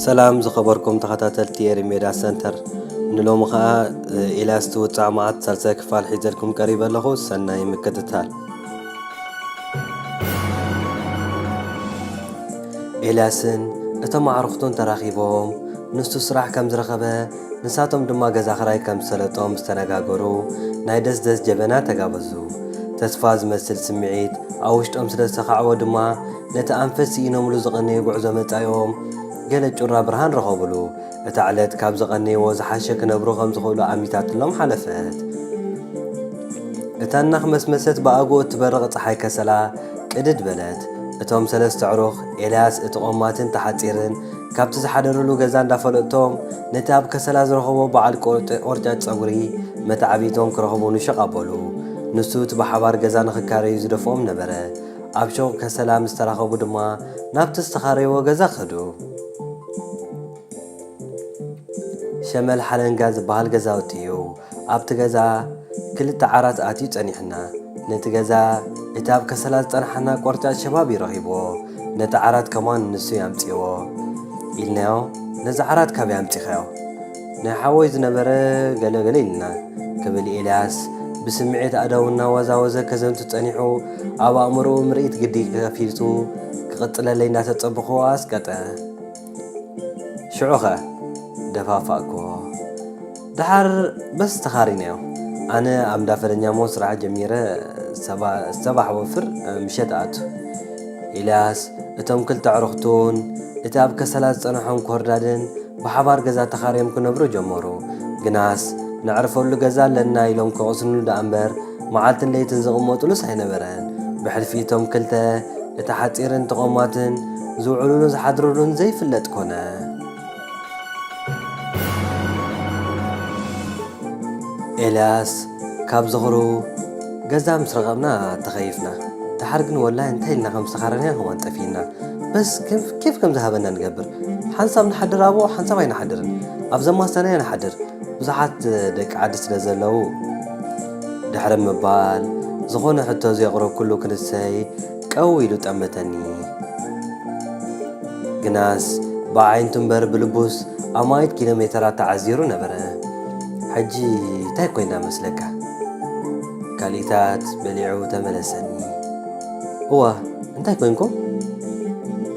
ሰላም ዝኸበርኩም ተኸታተልቲ ኤሪሜዳ ሰንተር ንሎሚ ኸኣ ኤልያስ ትውፃዕ መዓት ሳልሳይ ክፋል ሒዘልኩም ቀሪበ ኣለኹ ሰናይ ምክትታል ኤልያስን እቶም ኣዕርኽቱን ተራኺቦም ንሱ ስራሕ ከም ዝረኸበ ንሳቶም ድማ ገዛ ክራይ ከም ዝሰለጦም ምስ ተነጋገሩ፣ ናይ ደስደስ ጀበና ተጋበዙ። ተስፋ ዝመስል ስምዒት ኣብ ውሽጦም ስለ ዝተኻዕወ ድማ፣ ነቲ ኣንፈት ስኢኖምሉ ዝቐነዩ ጉዕዞ መጻኢኦም ገለ ጩራ ብርሃን ረኸቡሉ። እታ ዕለት ካብ ዝቐነይዎ ዝሓሸ ክነብሩ ከም ዝኽእሉ ኣሚታትሎም ሓለፈት። እታ እናኽመስመሰት ብኣግኡ እትበርቕ ጸሓይ ከሰላ ቅድድ በለት። እቶም ሰለስተ ኣዕሩኽ፣ ኤልያስ፣ እቲ ቆማትን እቲ ሓጺርን፣ ካብቲ ዝሓደርሉ ገዛ እንዳፈለጥቶም ነቲ ኣብ ከሰላ ዝረኸቦ በዓል ቆርጫጭ ጸጉሪ መተዓብይቶም ክረኽቡ ንሸቕ ኣበሉ። ንሱ እቲ ብሓባር ገዛ ንኽካረዩ ዝደፍኦም ነበረ። ኣብ ሸቕ ከሰላ ምስ ተራኸቡ ድማ ናብቲ ዝተኻረይዎ ገዛ ከዱ። ሸመል ሓለንጋ ዝበሃል ገዛውቲ እዩ። ኣብቲ ገዛ ክልተ ዓራት ኣትዩ ጸኒሑና። ነቲ ገዛ እቲ ኣብ ከሰላ ዝጸንሓና ቆርጫጭ ሸባብ እዩ ረኺብዎ። ነቲ ዓራት ከማን ንሱ እዩ ኣምጺእዎ። ኢልናዮ ነዚ ዓራት ካበይ ኣምጺኻዮ? ናይ ሓወይ ዝነበረ ገለ ገለ ኢሉና። ክብል ኤልያስ ብስምዒት ኣእዳዉ እናወዛወዘ ከዘንቱ ጸኒሑ ኣብ ኣእምሮኡ ምርኢት ግዲ ከፊቱ ክቕጽለለይ እንዳተጸበኹዎ ኣስቀጠ። ሽዑኸ? ደፋፋእክዎ። ደሓር በስ ተኻሪናዮ። ኣነ ኣብ እንዳ ፈረኛሞ ስራሕ ጀሚረ ሰባሕ ወፍር ምሸት እኣቱ። ኤልያስ፣ እቶም ክልተ ኣዕሩኽቱን እቲ ኣብ ከሰላ ዝጸንሖም ኮርዳድን ብሓባር ገዛ ተኻርዮም ክነብሩ ጀመሩ። ግናስ ነዕርፈሉ ገዛ ኣለና ኢሎም ከቕስንሉ ደኣምበር መዓልትን ለይትን ዝቕመጡሉስ ኣይነበረን። ብሕልፊ እቶም ክልተ፣ እቲ ሓጺርን እቲ ቆማትን፣ ዝውዕሉሉ ዝሓድሩሉን ዘይፍለጥ ኮነ። ኤልያስ፣ ካብ ዝኽሩ፣ ገዛ ምስ ረኸብና ተኸይፍና። ደሓር ግን ወላሂ እንታይ ኢልና ከም ዝተኻረና ኸማን ጠፊኡና። በስ ኬፍ ከም ዝሃበና ንገብር። ሓንሳብ ንሓድር ኣብኡ ሓንሳብ ኣይንሓድርን። ኣብ ዘማሰናዮ ንሓድር። ብዙሓት ደቂ ዓዲ ስለ ዘለዉ ድሕሪ ምባል ዝኾነ ሕቶ ዘየቕረብኩሉ ክንሰይ ቀው ኢሉ ጠመተኒ። ግናስ ብኣዒንቱ እምበር ብልቡስ ኣማኢት ኪሎ ሜተራት ተዓዚሩ ነበረ። ሕጂ ታይ ኮይና መስለካ? ካልኢታት በሊዑ ተመለሰኒ። እዋ እንታይ ኮንኩም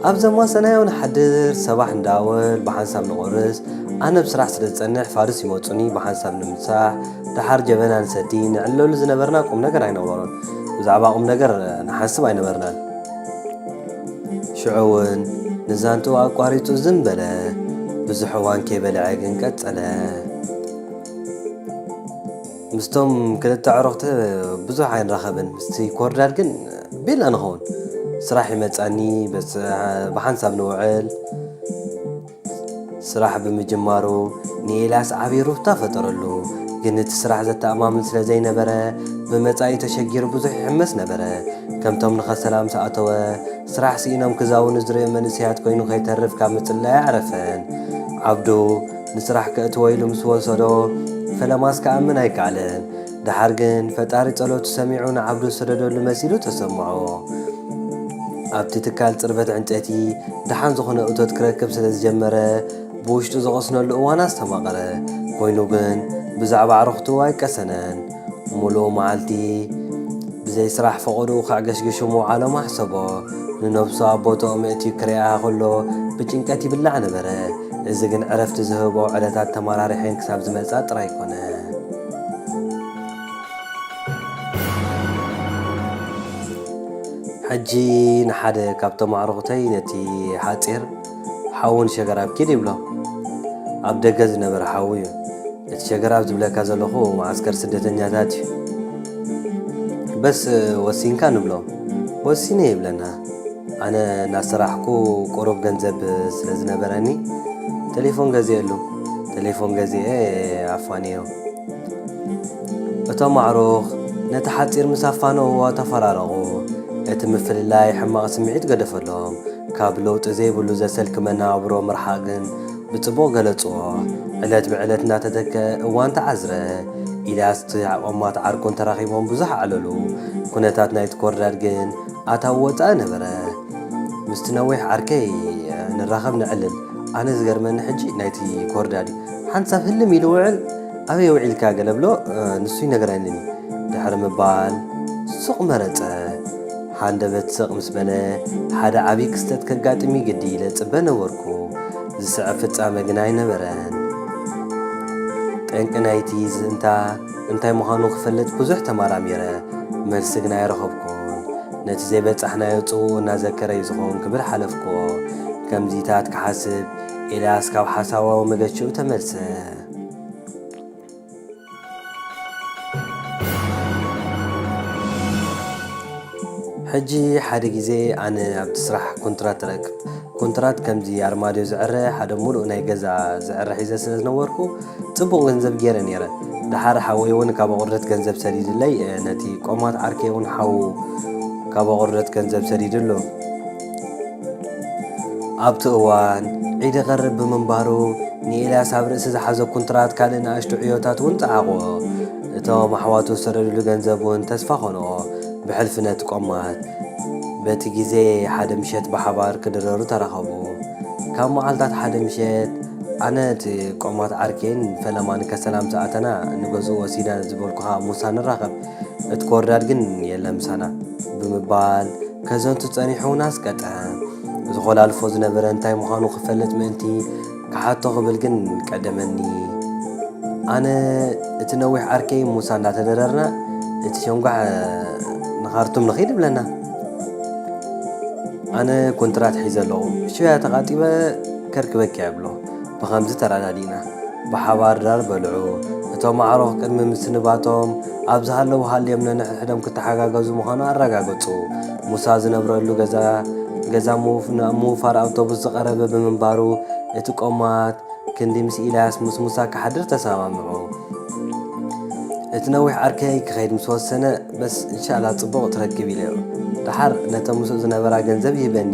ኣብ ዘማ ሰናዮ ንሓድር ሰባሕ እንዳወል ብሓንሳብ ንቆርስ ኣነ ብ ስራሕ ስለ ዝጸንሕ ፋርስ ይመጹኒ ብሓንሳብ ንምሳሕ ደሓር ጀበና ንሰቲ ንዕለሉ ዝነበርና ቁም ነገር ኣይነበሮን ብዛዕባ ቁም ነገር ንሓስብ ኣይነበርናን ሽዑ እውን ንዛንትኡ ኣቋሪጹ ዝም በለ ብዙሕ እዋን ከይበልዐ ግን ቀጸለ ምስቶም ክልተ ኣዕሩኽቲ ብዙሕ ኣይንራኸብን ምስቲ ኮርዳል ግን ቤላ ንኸውን ስራሕ ይመፃኒ ብሓንሳብ ንውዕል ስራሕ ብምጅማሩ ንኤልያስ ዓብዪ ሩፍታ ፈጠረሉ ግን እቲ ስራሕ ዘተኣማምን ስለ ዘይነበረ ብመጻኢ ተሸጊሩ ብዙሕ ይሕመስ ነበረ ከምቶም ንኸሰላም ሰኣተወ ስራሕ ስኢኖም ክዛውኑ ዝርእ መንእሰያት ኮይኑ ከይተርፍ ካብ ምጽላይ ኣረፈን ዓብዱ ንስራሕ ከእትዎ ኢሉ ምስ ወሰዶ ፈለማስ ክኣምን ኣይከኣለን። ደሓር ግን ፈጣሪ ጸሎቱ ሰሚዑ ንዓብዱ ዝሰደደሉ መሲሉ ተሰምዖ። ኣብቲ ትካል ጽርበት ዕንጨይቲ ደሓን ዝኾነ እቶት ክረክብ ስለ ዝጀመረ ብውሽጡ ዝቐስነሉ እዋን ኣስተማቐረ። ኮይኑ ግን ብዛዕባ ኣዕሩኽቱ ኣይቀሰነን። ምሉእ መዓልቲ ብዘይ ስራሕ ፈቐድኡ ከዕገሽግሹ ምውዓሎም ኣሕሰቦ። ንነብሱ ኣብ ቦትኦም የእትዩ ክርእያ ከሎ ብጭንቀት ይብላዕ ነበረ። እዚ ግን ዕረፍቲ ዝህቦ ዕለታት ተመራሪሐን ክሳብ ዝመጻ ጥራይ ኮነ። ሕጂ ንሓደ ካብቶም ኣዕሩኹተይ ነቲ ሓጺር ሓዉ ንሸገራብ ኪድ ይብሎ ኣብ ደገ ዝነበረ ሓዉ ዩ እቲ ሸገራብ ዝብለካ ዘለኹ መዓስከር ስደተኛታት ዩ በስ ወሲንካ ንብሎ ወሲነ ይብለና ኣነ ናሰራሕኩ ቁሩብ ገንዘብ ስለ ዝነበረኒ ተሌፎን ገዜኤሉ ተሌፎን ገዜኤ ኣፋንዮ እቶም ኣዕሩኽ ነቲ ሓጺር ምስ ኣፋነዉዎ ተፈራረቑ እቲ ምፍልላይ ሕማቕ ስምዒት ገደፈሎም ካብ ለውጢ ዘይብሉ ዘሰልኪ መነባብሮ ምርሓቕ ግን ብጽቡቕ ገለጽዎ። ዕለት ብዕለት እናተተከኣ እዋን ተዓዝረ። ኢልያስ ትሕቆማት ዓርኩን ተራኺቦም ብዙሕ ኣዕለሉ። ኩነታት ናይቲ ኮርዳድ ግን ኣታዊ ወጻኢ ነበረ። ምስቲ ነዊሕ ዓርከይ ንራኸብ ነዕልል። ኣነ ዝገርመኒ ሕጂ ናይቲ ኮርዳድ እዩ። ሓንሳብ ህልም ኢሉ ውዕል ኣበይ ውዒልካ ገለ ብሎ ንሱ ይነግረኒ ድሕሪ ምባል ሱቕ መረጸ። ሃንደበት ስቕ ምስ በለ፣ ሓደ ዓብዪ ክስተት ከጋጥም እዩ ግዲ ኢለ እጽበ ነበርኩ። ዝስዕብ ፍጻመ ግና ኣይነበረን። ጠንቂ ናይቲ ዝእምታ እንታይ ምዃኑ ክፈልጥ ብዙሕ ተመራሚረ። መልሲ ግና ኣይረኸብኩን። ነቲ ዘይበጻሕናዮ ጽውኡ እናዘከረ እዩ ዝኸውን ክብል ሓለፍኩዎ። ከምዚታት ክሓስብ፣ ኤልያስ ካብ ሓሳባዊ መገሽኡ ተመልሰ። ሕጂ ሓደ ግዜ ኣነ ኣብቲ ስራሕ ኮንትራት ረክብ ኮንትራት ከምዚ ኣርማድዮ ዝዕረ ሓደ ሙሉእ ናይ ገዛ ዝዕረ ሒዘ ስለ ዝነበርኩ ጽቡቕ ገንዘብ ገይረ ነይረ ድሓር ሓወይ እውን ካብ ኣቑርደት ገንዘብ ሰዲድለይ ነቲ ቆማት ዓርከይ እውን ሓዉ ካብ ኣቑርደት ገንዘብ ሰዲድሉ ኣብቲ እዋን፣ ዒድ ይቐርብ ብምንባሩ፣ ንኤልያስ ኣብ ርእሲ ዝሓዞ ኩንትራት ካልእ ንኣሽቱ ዕዮታት እውን ጸዓቖ። እቶም ኣሕዋቱ ዝሰደዱሉ ገንዘብ እውን ተስፋ ኾንኦ። ብሕልፊ ነቲ ቆማት በቲ ግዜ ሓደ ምሸት ብሓባር ክድረሩ ተራኸቡ። ካብ መዓልታት ሓደ ምሸት፣ ኣነ እቲ ቆማት ዓርከይን ፈለማን ከሰላምታ ኣተና ንገዝኡ ወሲድና ዝበልኩኻ ሙሳ ንራኸብ። እቲ ኮርዳድ ግን የለን ምሳና ብምባል ከዘንቱ ጸኒሑውን ኣስቀጠ። ዝኾላልፎ ዝነበረ እንታይ ምዃኑ ክፈልጥ ምእንቲ ክሓቶ ክብል ግን ቀደመኒ። ኣነ እቲ ነዊሕ ዓርከይ ሙሳ እንዳተደረርና እቲ ሸንጓሕ ንኻርቱም ንኺድ ብለና። ኣነ ኮንትራት ሒዘ ኣለኹ ሽያ ተቓጢበ ከርክበኪ እብሎ ብኸምዚ ተረዳዲእና ብሓባር ድራር በልዑ። እቶም ኣዕሩኽ ቅድሚ ምስንባቶም ኣብ ዝሃለዉ ሃልዮም ነንሕድሕዶም ክተሓጋገዙ ምዃኑ ኣረጋገጹ። ሙሳ ዝነብረሉ ገዛ ገዛ ምውፍ ናብ ምውፋር ኣውቶቡስ ዝቐረበ ብምንባሩ፣ እቲ ቆማት ክንዲ ምስ ኢልያስ ምስ ሙሳ ክሓድር ተሰማምዑ። እቲ ነዊሕ ዓርከይ ክኸይድ ምስ ወሰነ፣ በስ እንሻላ ጽቡቕ ትረክብ ኢለዮ። ደሓር ነተን ምስኡ ዝነበራ ገንዘብ ይህበኒ።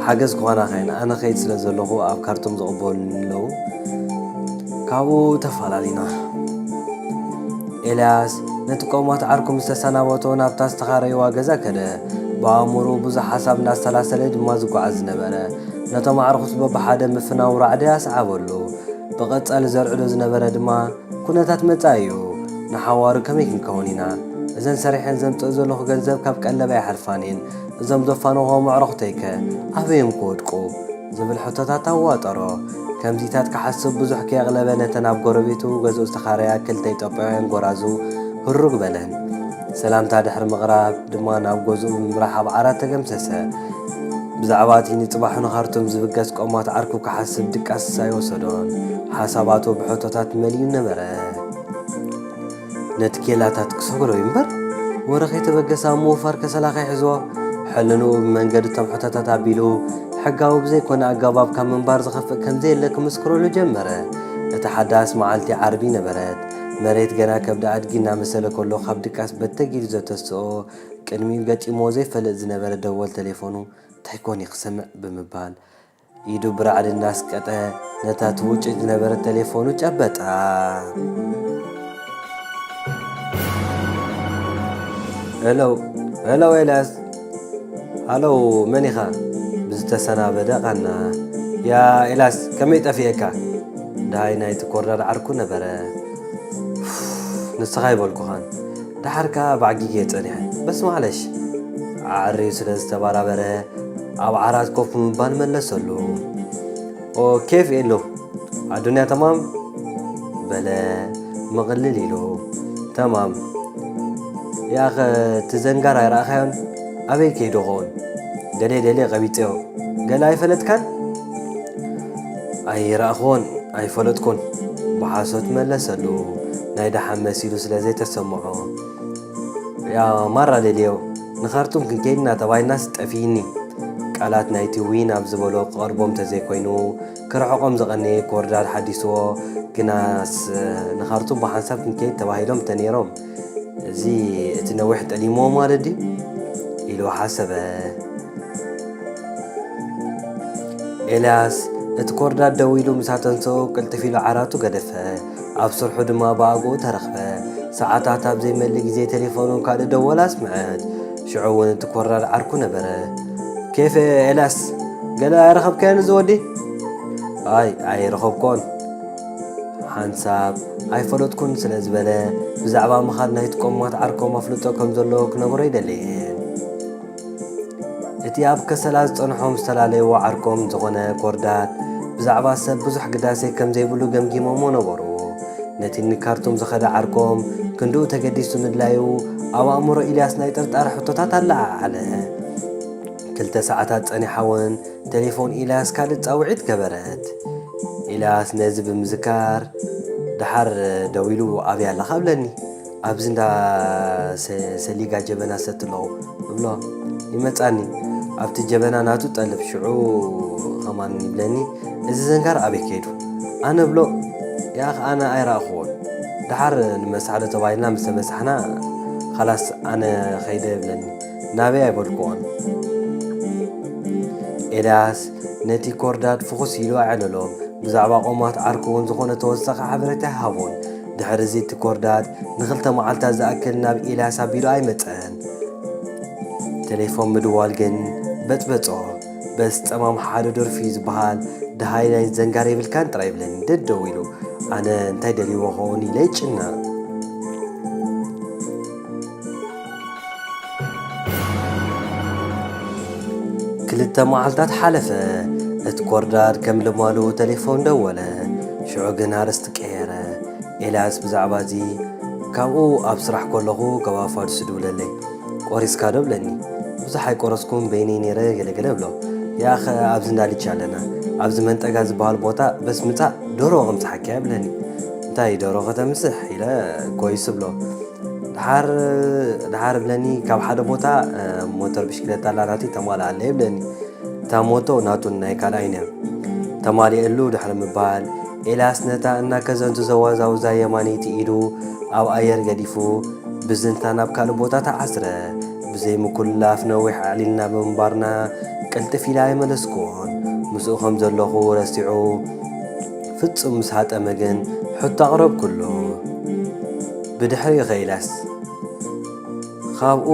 ሓገዝ ክኾናኻ ኢና ኣነ ከይድ ስለ ዘለኹ ኣብ ካርቱም ዝቕበሉኒ ኣለዉ ካብኡ ተፈላለና ኤልያስ ነቲ ቆሞት ዓርኩ ምስ ተሰናበቶ ናብታ ዝተኻረይዋ ገዛ ከደ ብኣእምሩ ብዙሕ ሓሳብ እንዳሰላሰለ ድማ ዝጓዓዝ ዝነበረ ነቶም ኣዕርኹቱ በብሓደ ምፍናው ራዕዲ ኣስዓበሉ ብቐጻሊ ዘርዕዶ ዝነበረ ድማ ኩነታት መጻኢ እዩ ንሓዋሩ ከመይ ክንከውን ኢና እዘን ሰሪሐን ዘምጽእ ዘለኹ ገንዘብ ካብ ቀለብ ኣይሓልፋን እየን እዞም ዘፋነዎም ኣዕሩኽተይከ ኣበይ'ዮም ክወድቁ? ዝብል ሕቶታት ኣዋጠሮ። ከምዚታት ክሓስብ ብዙሕ ከየቕለበ ነተን ኣብ ጎረቤቱ ገዝኡ ዝተኻረያ ክልተ ኢትዮጵያውያን ጎራዙ ህሩግ በለን። ሰላምታ ድሕሪ ምቕራብ ድማ ናብ ገዝኡ ብምምራሕ ኣብ ዓራት ተገምሰሰ። ብዛዕባ'ቲ ንጽባሑ ንኻርቱም ዝብገስ ቆማት ዓርኩ ክሓስብ ድቃስ ኣይወሰዶን። ሓሳባቱ ብሕቶታት መሊኡ ነበረ። ነቲ ኬላታት ክሰግሮ እዩ እምበር ወረ ከይተበገሰ ኣብ ምውፋር ከሰላ ከይሕዝዎ ሕልንኡ ብመንገዲ እቶም ሕቶታት ኣቢሉ ሕጋዊ ብዘይኮነ ኣገባብ ካብ ምንባር ዝኸፍእ ከምዘየለ ክምስክረሉ ጀመረ። እታ ሓዳስ መዓልቲ ዓርቢ ነበረት። መሬት ገና ከብዲ ኣድጊ እናመሰለ ከሎ ካብ ድቃስ በተግ ኢሉ ዘተስኦ ቅድሚኡ ገጢምዎ ዘይፈልጥ ዝነበረ ደወል ተሌፎኑ እንታይ ኮን እዩ ክሰምዕ ብምባል ኢዱ ብራዕዲ እናስቀጠ ነታ ትውጭጭ ዝነበረት ተሌፎኑ ጨበጣ። ሄሎ ሄሎ ኤልያስ ሃሎ መን ኢኻ? ብዝተሰናበደ ቓና። ያእ ኤልያስ ከመይ ጠፊኤካ? ደሃይ ናይቲ ኮርዳድ ዓርኩ ነበረ። ኡፍ ንስኻ ኣይበልኩኻን። ደሓር ከኣ ባዕጊጌ ጸኒሐ። በስ ማዕለሽ! ኣዐርዩ ስለ ዝተበራበረ፣ ኣብ ዓራት ኮፍ ብምባል መለሰሉ። ኦ ኬፍ ኤሎ! ኣዱንያ ተማም? በለ ምቕልል ኢሉ። ተማም! ያኸ እቲ ዘንጋር ኣይረኣኻዮን? ኣበይ ከይዱ ኸውን? ገለ ደልየ ቀቢጸዮ። ገለ ኣይፈለጥካን? ኣይረኣኹዎን ኣይፈለጥኩዎን ብሓሶት መለሰሉ ናይ ደሓን መሲሉ ስለ ዘይተሰምዖ። ያ ማራ ሌልዮ ንኻርቱም ክንከይድና ተባሂልናስ ጠፊኢኒ። ቃላት ናይቲ ዊን ኣብ ዝበሎ ክቐርቦም ተዘይኮይኑ ክርሕቖም ዝቐነየ ኮርዳድ ሓዲሱዎ ግናስ ንኻርቱም ብሓንሳብ ክንከይድ ተባሂሎም ተኔሮም። እዚ እቲ ነዊሕ ጠሊምዎ ማለት ድዩ ኢሉ ሓሰበ። ኤልያስ እቲ ኮርዳድ ደው ኢሉ ምስ ኣተንሰኡ ቅልጥፍ ኢሉ ዓራቱ ገደፈ። ኣብ ስርሑ ድማ ብኣግኡ ተረኽበ። ሰዓታት ኣብ ዘይመልእ ግዜ ቴሌፎኑ ካልእ ደወል ኣስምዐት። ሽዑ እውን እቲ ኮርዳድ ዓርኩ ነበረ። ኬፍ ኤልያስ ገለ ኣይረኸብካዮን እዚ ወዲ? ኣይ ኣይረኸብኩዎን። ሓንሳብ ኣይፈለጥኩን ስለ ዝበለ ብዛዕባ ምኻድ ናይቲ ቆሞት ዓርኮም ኣፍልጦ ከም ዘለዎ ክነግሮ ኣይደለየን። እቲ ኣብ ከሰላ ዝጸንሖም ዝተፈላለየዎ ዓርኮም ዝኾነ ኮርዳት ብዛዕባ ሰብ ብዙሕ ግዳሴ ከም ዘይብሉ ገምጊሞሞ ነበሩ። ነቲ ንካርቱም ዝኸደ ዓርኮም ክንድኡ ተገዲሱ ምድላዩ ኣብ ኣእምሮ ኢልያስ ናይ ጥርጣረ ሕቶታት ኣለዓዓለ። ክልተ ሰዓታት ጸኒሓ እውን ተሌፎን ኢልያስ ካልእ ጻውዒት ገበረት። ኢልያስ ነዚ ብምዝካር ደሓር ደዊሉ ኣብያ ኣለኻ እብለኒ ኣብዚ እንዳ ሰሊጋ ጀበና ሰቲ ኣለኹ እብሎ ይመጻኒ ኣብቲ ጀበና ናቱ ጠልብ ሽዑ ኸማን ይብለኒ እዚ ዘንጋር ኣበይ ከይዱ ኣነ እብሎ ያኽ ኣነ ኣይረኣኹዎን ደሓር ንመሳሕዶ ተባሂልና ምስ ተመሳሕና ኸላስ ኣነ ኸይደ እብለኒ ናበይ ኣይበልኩዎን። ኤልያስ ነቲ ኮርዳድ ፍኹስ ኢሉ ኣዕለሎ። ብዛዕባ ቆማት ዓርኩ'ውን ዝኾነ ተወሳኺ ሓበሬታ ኣይሃቦን። ድሕርዚ እቲ ኮርዳድ ንኽልተ መዓልታት ዝኣክል ናብ ኤልያስ ኣቢሉ ኣይመጸን። ቴሌፎን ምድዋል ግን በጽበጾ። በስ ጸማም ሓደ ደርፊ'ዩ ዝበሃል፣ ደሃይ ናይ ዘንጋር የብልካን ጥራይ ይብለኒ ደደው ኢሉ። ኣነ እንታይ ደልዩዎ'ኸውን ኢለ ይጭነቕ። ክልተ መዓልታት ሓለፈ። እቲ ኮርዳድ ከም ልማዱ ተሌፎን ደወለ። ሽዑ ግን ኣርእስቲ ቀየረ። ኤልያስ ብዛዕባ እዚ ካብኡ ኣብ ስራሕ ከለኹ ካብ ኣፋድሱ ድብለለይ ቆሪስካ ዶ ብለኒ። ብዙሕ ኣይቆረስኩን በይነይ ነይረ ገለገለ ብሎ ያኸ ኣብዚ እንዳ ልቺ ኣለና ኣብዚ መንጠጋ ዝበሃል ቦታ በስ ምጻእ ዶሮ ከምጽሓኪያ ብለኒ። እንታይ ዶሮ ከተምስሕ ኢለ ኮይስ ብሎ ድሓር ድሓር ብለኒ ካብ ሓደ ቦታ ሞተር ብሽክለታ ኣላ ናተይ ተማልኣለይ ብለኒ እታ ሞቶ ናቱን ናይ ካልኣይ ነር ተማልኤሉ ድሕሪ ምባል ኤልያስ ነታ እናከዘንቱ ዘዋዛውዛ የማነይቲ ኢዱ ኣብ ኣየር ገዲፉ ብዝንታ ናብ ካልእ ቦታ ተዓስረ ብዘይ ምኩላፍ ነዊሕ ኣዕሊልና ብምንባርና ቅልጥፍ ኢላ ኣይመለስኩዎን ምስኡ ከም ዘለኹ ረሲዑ ፍጹም ምስ ሃጠመ ግን ሕቶ ኣቕረብኩሉ ብድሕሪ ዄላስ ኻብኡ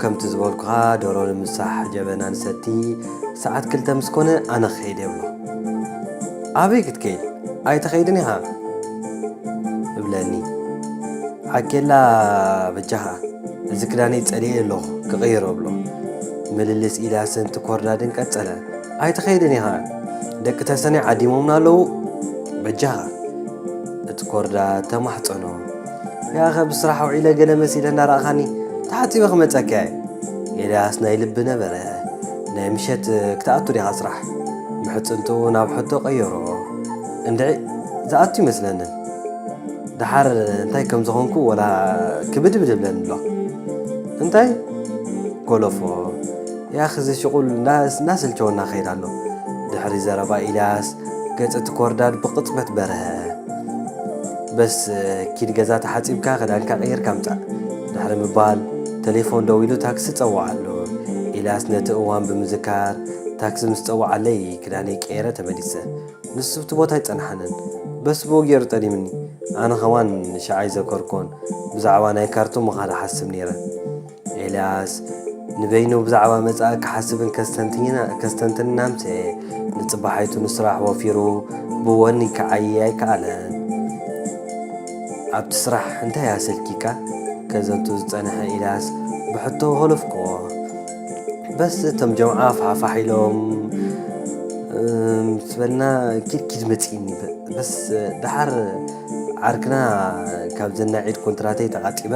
ከምቲ ዝበልኩኻ ዶሮ ንምሳሕ ጀበና ንሰቲ ሰዓት ክልተ ምስ ኮነ ኣነ ክኸይድ እየ እብሎ። ኣበይ ክትከይድ ኣይትኸይድን ኢኻ እብለኒ። ዓኬላ በጃኻ እዚ ክዳነይ ጸሊኤ ኣለኹ ክቕይሮ እብሎ። ምልልስ ኢልያስን ትኮርዳድን ቀጸለ። ኣይትኸይድን ኢኻ ደቂ ተሰነይ ዓዲሞምና ኣለዉ በጃኻ እቲ ኮርዳ ተማሕጸኖ። ያኸ ብስራሕ ውዒለ ገለ መሲለ እንዳረኣኻኒ ተሓጺበ ክመጸካ እየ። ኤልያስ ናይ ልቢ ነበረ። ናይ ምሸት ክትኣቱ ዲኻ ስራሕ? ምሕጽንትኡ ናብ ሕቶ ቀየሮ። እንድዒ ዝኣቱ ይመስለንን። ደሓር እንታይ ከም ዝኾንኩ ወላ ክብድብድ ይብለኒ ኣሎ። እንታይ? ጎለፎ። ያኽ እዚ ሽቑል እናሰልቸወና ክኸይድ ኣሎ። ድሕሪ ዘረባ ኢልያስ ገጽ እቲ ኮርዳድ ብቕጽበት በርሀ። በስ ኪድ ገዛ ተሓጺብካ ክዳንካ ቀይርካ ምጻእ ድሕሪ ምባል ተሌፎን ደዊሉ ታክሲ ጸውዓሉ። ኢልያስ ነቲ እዋን ብምዝካር ታክሲ ምስ ጸውዓለይ ክዳነይ ቀይረ ተመሊሰ። ንሱ ኣብቲ ቦታ ኣይጸንሓንን። በስ ብኡ ገይሩ ጠሊምኒ። ኣነ ከማን ንሸዓ ኣይዘከርኩዎን። ብዛዕባ ናይ ካርቱም ምኻድ እሓስብ ነይረ። ኤልያስ፣ ንበይኑ ብዛዕባ መጻኢ ክሓስብን ከስተንትንን ኣምስየ። ንጽባሒቱ ንስራሕ ወፊሩ ብወኒ ክዓይይ ኣይከኣለን። ኣብቲ ስራሕ እንታይ ኣሰልኪካ? ከዘቱ ዝጸንሐ ኤልያስ ብሕቶ ሆለፍኩዎ። በስ እቶም ጀምዓ ፋሕፋሕ ኢሎም ምስ በልና ኪድኪድ መጺእኒ። በስ ደሓር ዓርክና ካብ ዘናዒድ ኮንትራተይ ተቓጢበ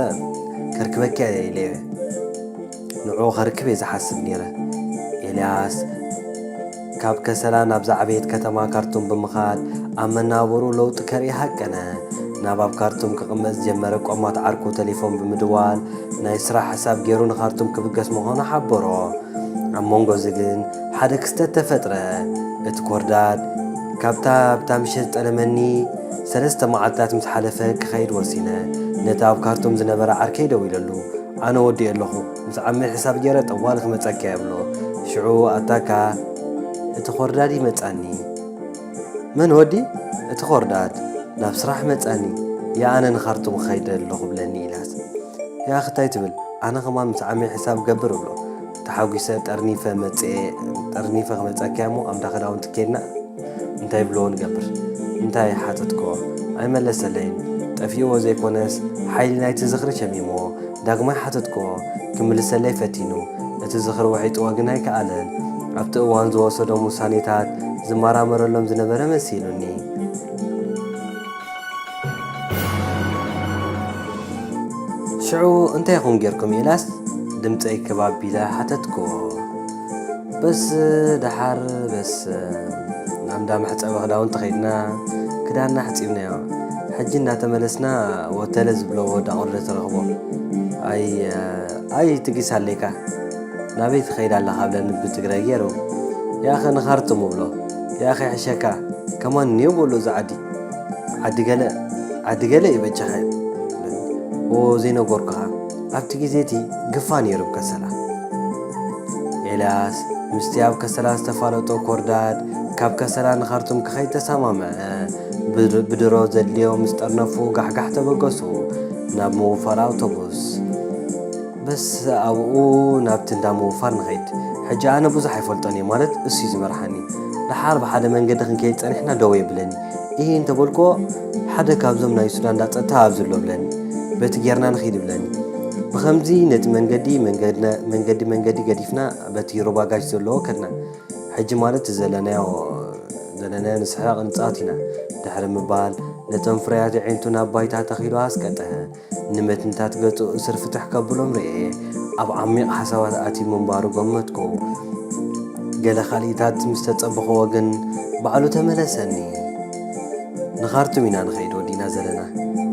ከርክበኪ እየ ኢለዮ። ንዕኡ ከርክብ እየ ዝሓስብ ነይረ። ኤልያስ ካብ ከሰላ ናብ ዝዓበየት ከተማ ካርቱም ብምኻድ ኣብ መናብሩ ለውጢ ከርኢ ሃቀነ። ናብ ኣብ ካርቱም ክቕመጥ ዝጀመረ ቆማት ዓርኩ ተሌፎን ብምድዋል ናይ ስራሕ ሕሳብ ገይሩ ንካርቱም ክብገስ ምዃኑ ሓበሮ። ኣብ መንጎ እዚ ግን ሓደ ክስተት ተፈጥረ። እቲ ኮርዳድ ካብታ ኣብታ ምሸት ዝጠለመኒ ሰለስተ መዓልትታት ምስ ሓለፈ ክኸይድ ወሲነ። ነቲ ኣብ ካርቱም ዝነበረ ዓርከይ ደዊለሉ፣ ኣነ ወዲኤ ኣለኹ፣ ምስ ዓመይ ሕሳብ ገይረ ጠዋሊ ክመጸካ'የ እብሎ። ሽዑ ኣታካ እቲ ኮርዳድ ይመጻኒ። መን ወዲ? እቲ ኮርዳድ ናብ ስራሕ መጻኒ። ያእ ኣነ ንካርቱም ክኸይድ ኣለኹ እብለኒ። ኢልያስ ያኣኺ እንታይ ትብል? ኣነ ከማን ምስ ዓመይ ሕሳብ ክገብር እብሎ። ተሓጒሰ ጠርኒፈ መጽኤ ጠርኒፈ ክመልጸኪያ እሞ ኣብዳ ክዳውንቲ ኬድና እንታይ ብለዎ ንገብር እንታይ ሓተትክዎ ኣይመለሰለይን ጠፊእዎ ዘይኮነስ ሓይሊ ናይቲ ዝኽሪ ሸሚምዎ ዳግማይ ሓተትክዎ ክምልሰለይ ፈቲኑ እቲ ዝኽሪ ወሒጥዎ ግን ኣይከኣለን ኣብቲ እዋን ዝወሰዶም ውሳኔታት ዝመራመረሎም ዝነበረ መሲሉኒ ሽዑ እንታይ ኹም ጌርኩም ኢላስ ድምፀይ ክብ ኣቢለ ሓተትኩዎ። በስ ደሓር በስ ናብ እንዳ መሕፀቢ ክዳውንቲ ከይድና ክዳንና ኣሕፂብናዮ። ሕጂ እናተመለስና ወተለ ዝብለዎ ዳቆሎ ትረኽቦ። ኣይ ኣይ ትጊስ ኣለካ ናበይ ትኸይድ ኣለኻ ብለኒ ብትግራይ ገይሩ። ያኸ ንኻርቱም እብሎ ያኸ ይሕሸካ ከማን እኒኦ በሎ እዚ ዓዲ ዓዲ ገለ ዓዲ ገለ እዩ በጃኻ ኦ ዘይነገርኩኻ ኣብቲ ግዜ እቲ ግፋ ነይሩ ኣብ ከሰላ ኤልያስ ምስቲ ኣብ ከሰላ ዝተፋለጦ ኮርዳድ ካብ ከሰላ ንኻርቱም ክኸይድ ተሰማምዐ ብድ- ብድሮ ዘድልዮ ምስ ጠርነፉ ጋሕጋሕ ተበገሱ ናብ ምውፋር ኣውቶቡስ በስ ኣብኡ ናብቲ እንዳ ምውፋር ንኸይድ። ሕጂ ኣነ ብዙሕ ኣይፈልጦን እየ፣ ማለት እሱ'ዩ ዝመርሓኒ። ደሓር ብሓደ መንገዲ ክንከይድ ጸኒሕና ደው የብለኒ። ኢሂ እንተ በልኩዎ፣ ሓደ ካብዞም ናይ ሱዳን እንዳ ጸጥታ ኣብዚ ኣሎ እብለኒ። በቲ ጌርና ንኺድ እብለኒ። ብኸምዚ ነቲ መንገዲ መንገዲ መንገዲ ገዲፍና በቲ ሩባ ጋሽ ዘለዎ ከድና። ሕጂ ማለት እቲ ዘለናዮ ዘለናዮ ንስሕቕ ንጻወት ኢና ድሕሪ ምባል ነቶም ፍርያት ኣዒንቱ ናብ ባይታ ተኺሉ ኣስቀጠሐ። ንመትንታት ገጹ እስር ፍትሕ ከብሎም ርእየ። ኣብ ዓሚቕ ሓሳባት ኣትዩ ምንባሩ ገመትኩ። ገለ ካልኢታት ምስ ተጸበኹዎ ግን ባዕሉ ተመለሰኒ። ንኻርቱም ኢና ንኸይድ ወዲእና ዘለና።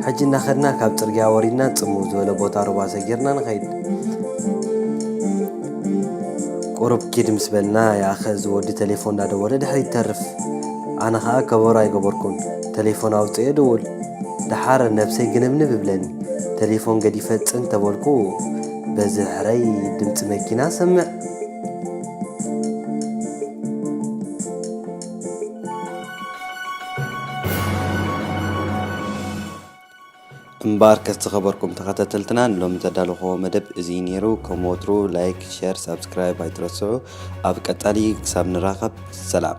ሕጂ እናኸድና ካብ ጽርግያ ወሪድና ጽምው ዝበለ ቦታ ሩባ ሰጊርና ንኸይድ። ቁሩብ ኪድ ምስ በልና ይኣኸ እዚ ወዲ ተሌፎን እናደወለ ድሕሪት ይተርፍ። ኣነ ኸኣ ከበሮ ኣይገበርኩን። ተሌፎን ኣውጺኤ እድውል ደሓር ነብሰይ ግንብንብ ይብለኒ ተሌፎን ገዲፈ ጽን ተበልኩ በዚ ሕረይ ድምጺ መኪና ሰምዕ። እምበኣርከስ ዝኸበርኩም ተኸታተልትና ንሎሚ ዘዳለኹዎ መደብ እዚ ነይሩ። ከም ወትሩ ላይክ፣ ሸር፣ ሳብስክራይብ ኣይትረስዑ። ኣብ ቀጻሊ ክሳብ ንራኸብ ሰላም።